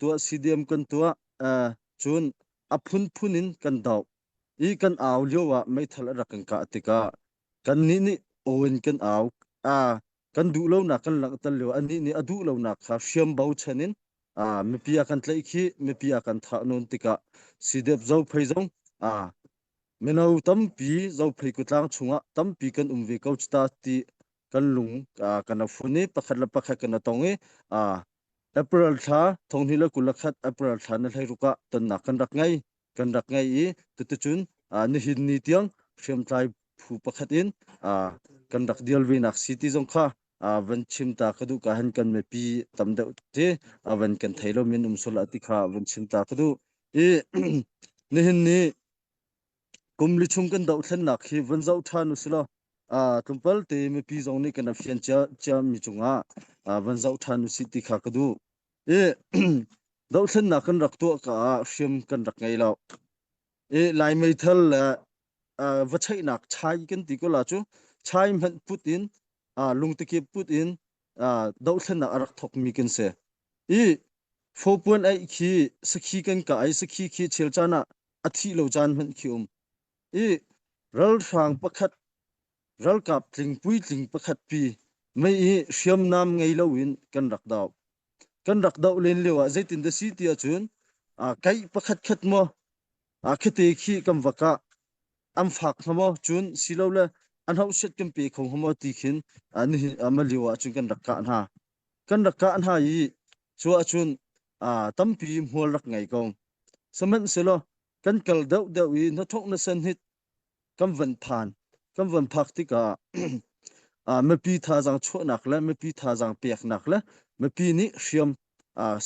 tuah si diam kan tuah cun a phunphun in kan doh i kan au lio ah meithal a rak kan kah tikah kannih nih aw in kan au kan duh lonak kan langhter lio anih nih a duh lonak kha hriam bo chan in mipi a kan tlaih khi mipi a kan thah nun tikah sidep zo phei zong mino tampi zophei kutlang chungah tampi kan um ve ko cita ti kan lung kan a fun i pakhat le pakhat kan a tong i april thla thonghni le kul khat april thla na hlei ruka tonnak kan rak ngei kan rak ngei i tutucun nihin ni tiang hriamtlai phu pakhat in kan rak dial ve nak si ti zong kha van chim ta ka duh ka han kan me pi tam deuh te van kan thei lo min um sola ti kha van chim ta ka duh i nihin ni kum li chung kan dohthlennak khi van zoh ṭhan u silaw tlawmpal te mipi zong nih kan rak fian cia mi cungah van zoh ṭhan u sih ti kha ka duh. I dohthlennak kan rak tuah ka ah hriam kan rak ngei lo. I Lai meithal le va cheihnak chai kan ti ko la cu chai hmanh put in lungtekip put in dohthlennak a rak thok mi kan si. I fopuan aih khi sakhi kan ka ai sakhi khi chel caan ah a thih lo caan hmanh khi um i ralhrang pakhat ralkap tlingpui tling pakhat pi mei hi hriamnam ngei lo in kan rak doh kan rak doh len lio ah zeitin da si ti ahcun kai pakhat khat mo a khate khi kam waka am fak hamo cun silo le an hausiat kan pe kho hamo ti khin ani ama liwa cun kan rak ka hna kan rak kah hna i cu ahcun tampi hmual rak ngei ko sihmanhsehlaw kan kal deuh deuh i hnathawk nasen hit kan van phan kan van phak tikah mipi thazaang chuahnak le mipi thazaang peknak le mipi nih hriam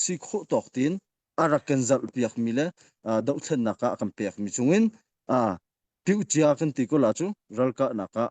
si khawh tawk tiin a rak kan zarh piakmi le dohthlennak ah a kan pekmi chungin tiucia kan ti ko la cu ralkahnak ah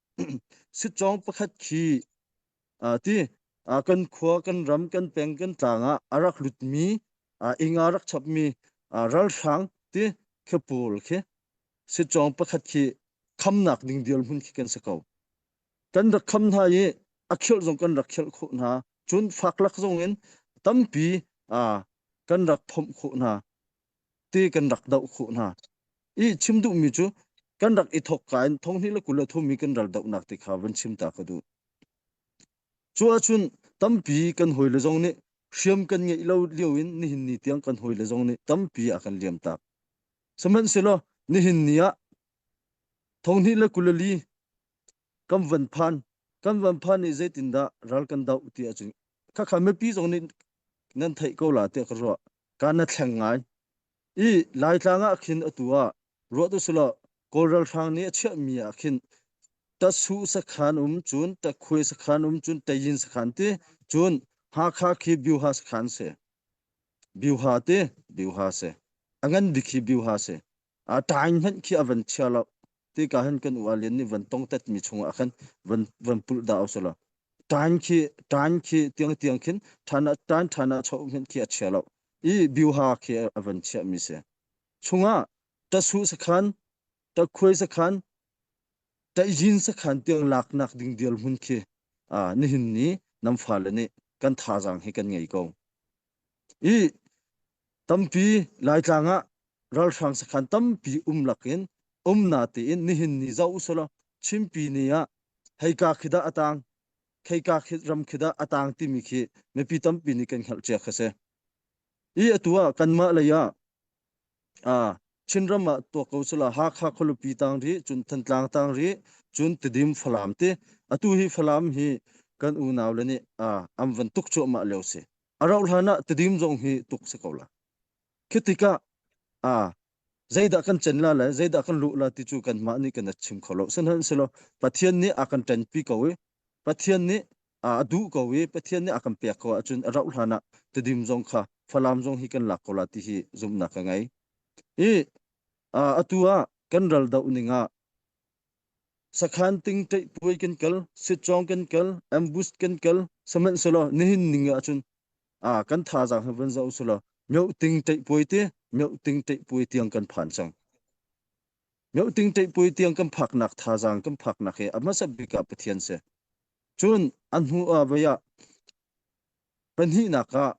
Sitcong pakhat khi ti kan khua, kan ram, kan peng, kan tlang ah a rak lutmi, ing a rak chapmi ralhrang ti khi pawl khi sitcong pakhat khi khamnak ding dirhmun khi kan si ko. Kan rak kham hna i a khirh zong kan rak khirh khawh hna. Cun faklak zong in tampi kan rak phomh khawh hna. te kan rak doh khawh hna i chim duhmi cu kan rak i thok ka in thonghni le kul a thumi kan ral dohnak te kha van chim ta ka duh cu ahcun tampi kan hoi le zong nih hriam kan ngeih lo lio in nihin ni tiang kan hoi le zong nih tampi a kan liam tak sihmanhsehlaw nihin ni ah thonghni le kulali kan van phan kan van phan i zeitin dah ral kan doh ti ahcun khakha mipi zong nih nan theih ko la te ka ruah Kan na thleng ngai. I Laitlang ah khin atu ah ruat u sulaw Kawl ralhrang nih a chiahmi ah khin tatsu sakhan um cun takkhuai sakhan um cun tayin sakhan ti cun Hakha khi Byuha sakhan si. Byuha ti Byuha si. A ngan bik hi Byuha si. a tain hen khi a van chia lo ti ka hen kan u a lian ni van tong tet mi chung ah khan van van pul da au sala tain khi tain khi tiang tiang khin thana tain thana chau hen khi a chia lo i biu ha khi a van chia mi se chunga ta su sakhan ta khuai sakhan ta jin sakhan tiang lak nak ding dial mun khi a ni hin ni nam fa le ni kan tha jang hi kan ngei ko Ih tampi Laitlang ah ralhrang sakhan tampi um lakin um na tein nihin ni zoh usulaw Chinpi ni ah heika khi dah a tang, heika khi ram khi dah a tang timi khi mipi tampi nih kan hngalh cia kha si. Ih atu ah kanmah lei ah Ah, Chinram ah tuah ko sala Hakha khualupi tang rih, cun Thantlang tang rih, cun Tidim Falam ti. Atu hi Falam hi kan unau le nih ah am van tuk cuahmah leo si. A rauh hlan ah Tidim zong hi tuk si ko la. Khi tikah ah zeidah kan chen la le zeidah kan luh la ti cu kan mah nih kan a chim kho lo. Sanhan silo Pathian nih a kan ṭenpi ko i Pathian nih a duh ko i Pathian nih a kan pek ko ahcun a rauh hlan ah tedim zong kha Falam zong hi kan lak ko la ti hi zumhnak ka ngei. I atu ah kan ral doh ning ah sakhan ting tei puai kan kal sitchong kan kal ambush kan kal saman selo nihin ning ahcun a kan tha jang van zo selo myo ting tei puai te myo ting tei puai tiang kan phan chang myo ting tei puai tiang kan phak nak tha jang kan phak nak he a hmasa bika pathian se Cun a hnuah voi ah pahnihnak ah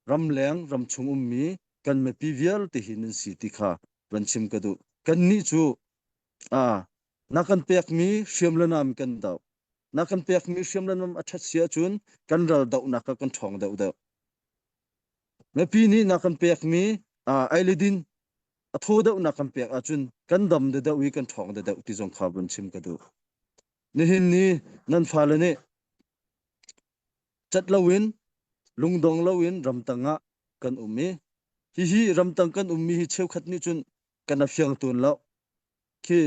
ramleng ramchung ummi kan mipi vialte hi nan si ti kha van chim ka duh. Kannih cu a na kan pekmi hriamlanam kan doh. Na kan pekmi hriamlanam a ṭhat si ahcun kan ral dohnak kha kan ṭhawng deuhdeuh. Mipi nih na kan pekmi uh, eiledin a thaw deuhnak kan pek ahcun kan dam deuhdeuh i kan ṭhawng deuhdeuh ti zong kha van chim ka duh. Nihin ni nan fale nih cat loin lungdong loin ramtang ah kan um i hihi ramtang kan ummi hi cheukhat nih cun kan a fiang tuan lo khi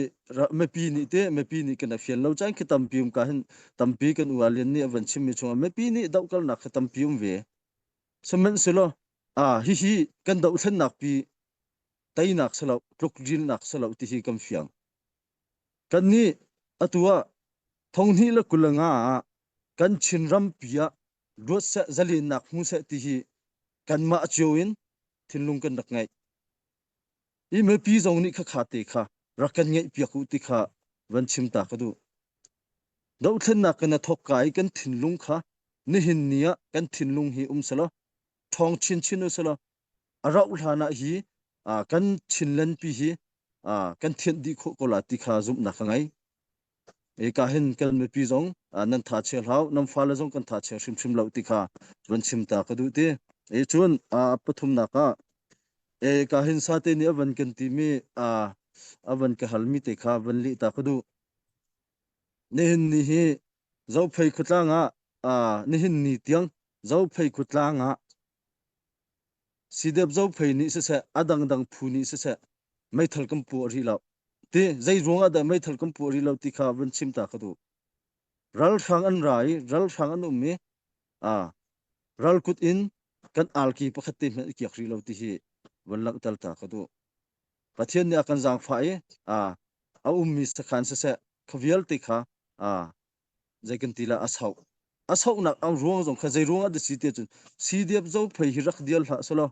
mipi nih te mipi nih kan a fian lo caan khi tampi um ka hin tampi kan u alian nih a van chimmi chungah mipi nih dohkalnak khi tampi um ve sihmanhselaw a hihi kan dohthlennak pi teinak silo tluk rilnak silo tihi kan fiang Kannih, atu ah Thonghnih le kul le nga ah kan Chinrampi ah luat seh, zalennak hmu seh ti hi kanmah cio in thinlung kan rak ngeih. I mipi zong nih khakha te kha rak kan ngeihpiak u ti kha van chim ta ka duh. Dohthlennak kan a thawk ka i kan thinlung kha nihin ni ah kan thinlung hi um selaw, ṭhawng chinchin u selaw, a rauh hlan ah hi kan chinlenpi hi kan thianh dih khawh ko la ti kha zumhnak ka ngei. Eka hin kan mipi zong nan tha chia hlau, nan fale zong kan tha chia hrimhrim lo ti kha run chimta ka duh ti. E cun pathumnak ah e ka hin sate ni avan kan ti mi avan ka hal mi te kha van li ta ka duh. Nihin ni hi zophei khutlang ah nihin ni tiang zophei khutlang ah Sidep zophei nih siseh, a dangdang phu nih siseh, meithal kan pu a ri lo. Ti zeiruang ah dah meithal kan pu a ri lo ti kha van chim ta ka duh. Ralhrang an ra i, ralhrang an um i, a, ralkut in kan alki pakhat te hmanh i kiak ri lo ti hi van langhter ta ka duh. Pathian nih a kan zaangfah i, a, a ummi sakhan siseh, kha vialte kha, a, zei kan ti lah a sau a saunak ang ruang zong kha zei ruang ah dah si te cun si diap zo phei hi rak dial hlah solo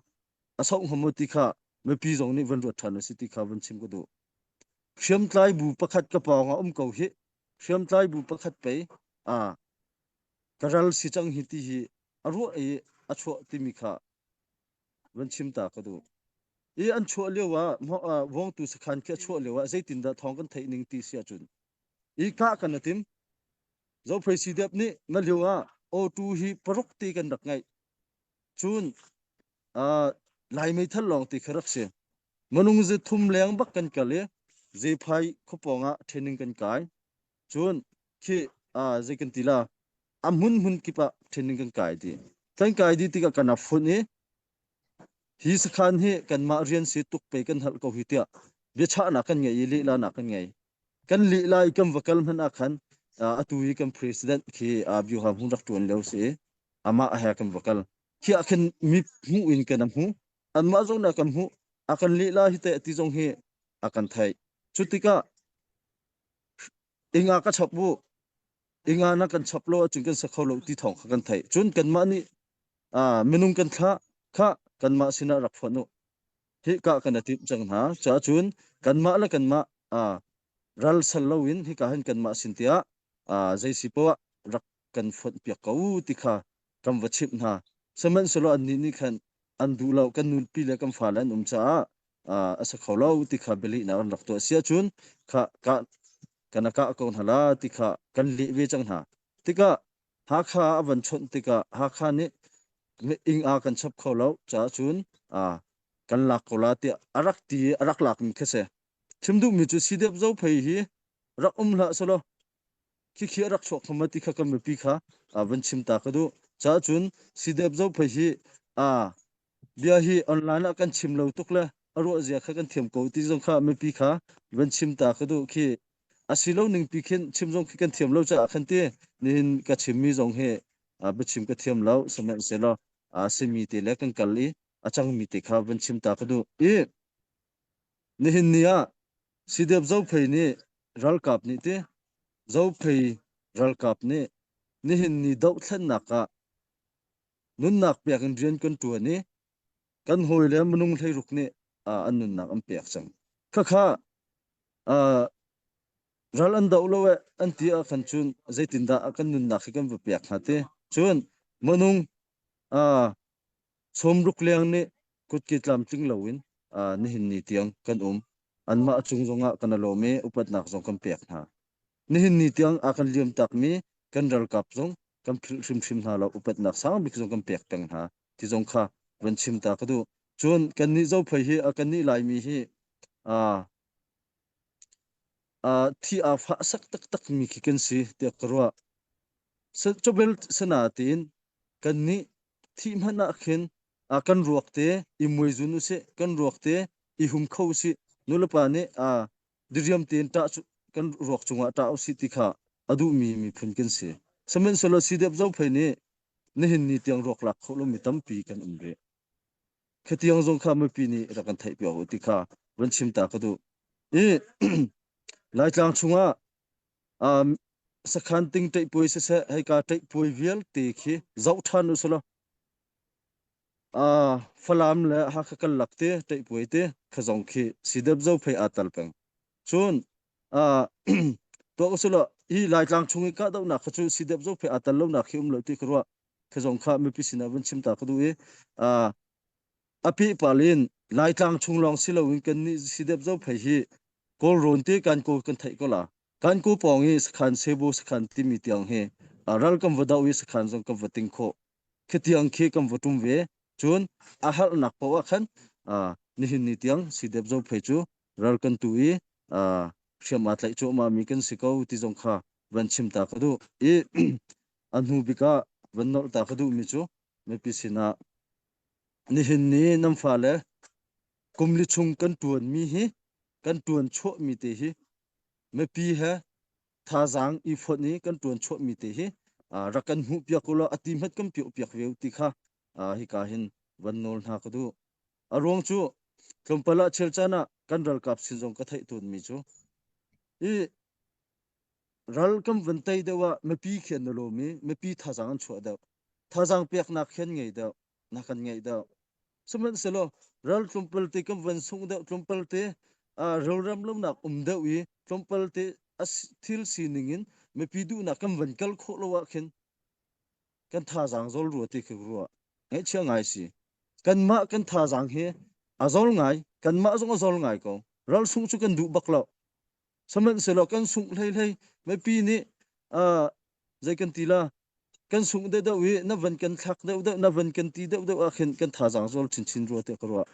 a sau hamo ti kha mipi zong nih van ruat than a si ti kha van chim ko du hriam tlai bu pakhat ka pawng a um ko hi hriam tlai bu pakhat pe a karal si chang hi ti hi a ruwa i a chuah timi kha van chim ta ka du i an chuah liawa wong tu sakhan ke chuah liawa zeitin dah thong kan theih ning ti sia chun Ihkah kan atim. Zophei CDEP nih na liu ah O2 hi paruk ti kan rak ngaih. Cun uh, lai meithal lawng ti kha rak si. Manung zi thum leng bak kan kal i zephai khupawng ah training kan kai. Cun khi uh, zei kan ti la amun mun kip ah training kan kai di. Kan kai di tikah kan a fun i hi sakhan hi kanmah rian si tuk pe kan hal ko hi tiah biachahnak kan ngei i lila nak kan ngei. Kan lih lai kan va kal hmanh ah khan atu hi kan president khi Byo ha hmun rak ṭuan lio si i amah he kan va kal. Khiah khin mi hmuh in kan hmuh. Anmah zong nih kan hmuh. A kan lih lai hi teh ti zong hi a kan theih. Cu tikah inga ka chap u. Inga na kan chap lo ahcun kan sa kho lo ti thawng kha kan theih. Cun kanmah nih minung kan thlah kha kanmah sinah rak phuan u. hika kan atimh cang hna caah cun kanmah le kanmah aa ral sal loin hika hin kanmah sin tiah aa zeisi poah rak kan fonh piak ko ti kha kan va chimh hna sihmanhsehlaw annih nih khan an duh lo kan nupi le kan fale an um caah aa a sa kho lo ti kha bialehnak an rak tuah si ahcun kha ka kana kah ko hna la ti kha kan leh ve cang hna tikah Hakha a van chawnh tikah Hakha nih ing a kan chap kho lo caah cun kan lak ko la tiah a rak ti i a rak lakmi kha si. Chim duhmi cu Sidep Zo phei hi rak um hlah selaw khikhi a rak chuak hama ti kha kan mipi kha van chim ta ka duh. Caah cun Sidep Zo phei hi bia hi online ah kan chim lo tuk le a ruahzia kha kan thiam ko ti zong kha mipi kha van chim ta ka duh khi asi lo ning pi khin chim zong khi kan thiam lo caah khan ti nihin ka chimmi zong hi biachim ka thiam lo sihmanhsehlaw a simi te le kan kal i a cangmi te kha van chim ta ka duh i nihin ni ah sideep zophei nih ralkap nih ti zophei ralkap nih nihin ni dohthlennak ah nunnak pek in rian kan ṭuan i kan hawi le minung hleiruk nih uh, an nunnak an pek cang khakha uh, ral an do lo e an ti a kan chun zeitin dah a kan nunnak hi kan va pek hna te chun manung uh, som ruk leang ni kutki tlam tling lo in uh, nihin ni tiang kan um anmah chung zongah kan alomi upatnak zong kan pek hna Nihin ni tiang a kan liam takmi kan ralkap zong kan philh hrimhrim hna lo. Upatnak sang bik zong kan pek peng hna ti zong kha van chim ta ka duh. Cun kannih zophei hi a kannih Laimi hi aa uh, thi aa fah sak taktakmi khi kan si tiah ka ruah. Cobel sana tiin kannih thi hmanh ah khin a kan ruak te i muizun u si, kan ruak te i hum kho u si. Nu le pa nih a diriam tein ṭah kan ruak cungah ṭah usih ti kha a duhmi miphun kan si. Sihmanhsehlaw sidep zophei nih nihin ni tiang ruak lak khawh lomi tampi kan um rih. Khi tiang zong kha mipi nih rak kan theih piak u ti kha van chim ta ka duh. I Laitlang chungah um, sakhan ting teih puai siseh, heika teih puai vialte khi zoh ṭhan u selaw Ah, Falam le Hakha kan lak te teihpuai te kha zong khi sidep zo phei aa tal peng. Cun ah tuah ko silo hi Laitlang chung i kahdohnak kha cu sidep zo phei aa tal lonak khi um lo ti ka ruah kha zong kha mipi sinah vun chim ta ka duh i ah a pih pal in Laitlang chung lawng si loin kan nih sidep zo phei hi kawl rawn te kan kawl kan theih ko la kan ku pawng i sakhan sebo sakhan timi tiang hi ah ral kan va doh i sakhan zong kan va ting khawh khatiang khi kan va ṭum ve. Cun a harnak paoh ah khan nihin ni tiang sidep zo phei cu ral kan tu i hriam aa tlaih cuahmah mi kan si ko ti zong kha van chim ta ka duh i a hnu bik ah van nawlh ta ka duhmi cu mipi sinah nihin ni nan fale kum li chung kan ṭuanmi hi kan ṭuan chuahmi te hi mipi he thazaang i fonh i kan tuan chuahmi te hi rak kan hmuh piak ulaw a ti hmat kan piok piak ve ti kha hika hin van nawl hna ka duh a ruang cu tlawmpal ah chel caan ah kan ralkap sin zong ka theih tawnmi cu i ral kan van tei deuh ah mipi khi an na lawm i mipi thazaang an chuah deuh thazaang peknak khi an ngei deuh na kan ngei deuh sihmanhsehlaw ral tlumpal te kan van sung deuh tlumpal te rolram lonak um deuh i tlumpal te thil sining in mipi duhnak kan van kal khawh lo ah khin kan thazaang zol rua ti khi rua ngaihchia ngai si kanmah kan thazaang hi a zol ngai kanmah zong a zol ngai ko ral sung cu kan duh bak lo sahmanhsehlaw kan sungh hleihlei mipi nih zei kan ti la kan sungh deuhdeuh i na van kan thlak deuhdeuh na van kan ti deuhdeuh ah khin kan thazaang zual chinchin rua tiah ka ruah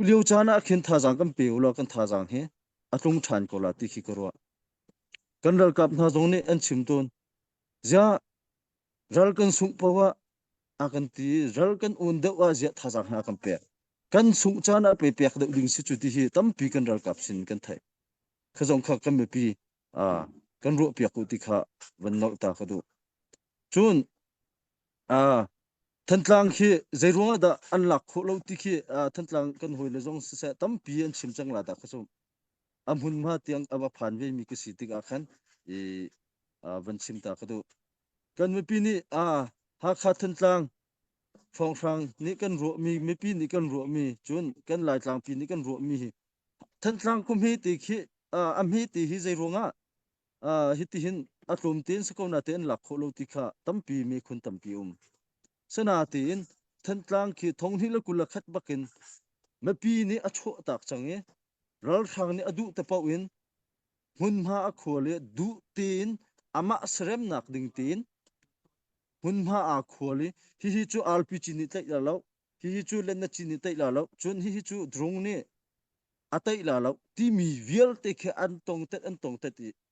lio caan ah khin thazaang kan pe u law kan thazaang hi a tlung ṭhan ko la ti khi ka ruah kan ralkap hna zong nih an chim tun ziah ral kan sungh poah a kan ti ral kan un deuh ah ziah thazang hna kan pek kan sungh caan ah pe pek deuh ding si cu ti hi tampi kan ralkap sin kan thai khazong kha kan mipi a kan ruah piak ku ti kha van nol ta ka du cun a thantlang khi zeiruang ah dah an lak khawh lo ti khi thantlang kan hoi le zong siseh tampi an chim cang la da khasum A hmunhma tiang a va phan vemi ka si tikah khan i van chim ta ka duh. Kan mipi nih Hakha Thantlang hrawnghrang nih kan ruahmi mipi nih kan ruahmi cun kan Laitlangpi nih kan ruahmi hi Thantlang khumhi ti khi a hmi ti hi zei ruangah hitihin a tlum te an si ko na te an lak khawh lo ti kha tampi mekhun tampi um. Sanatiin Thantlang khi thonghnih le kul a khat bakin mipi nih a chuah tak cang i ralhrang nih a duh te paoh in hmunhma a khua le duh tein amah seremnak ding tein hmunhma aa khual i hihi cu arpi cin i tlaih la lo hihi cu lenna cin i tlaih la lo cun hihi cu drone nih a tlaih la lo timi vialte khi an tongtet an tongtet i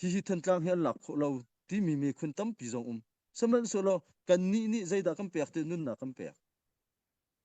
hihi thantlang hi an lak khawh lo timi miphun tampi zong um sihmanhsehlaw kannih nih zeidah kan pek ti nunnak kan pek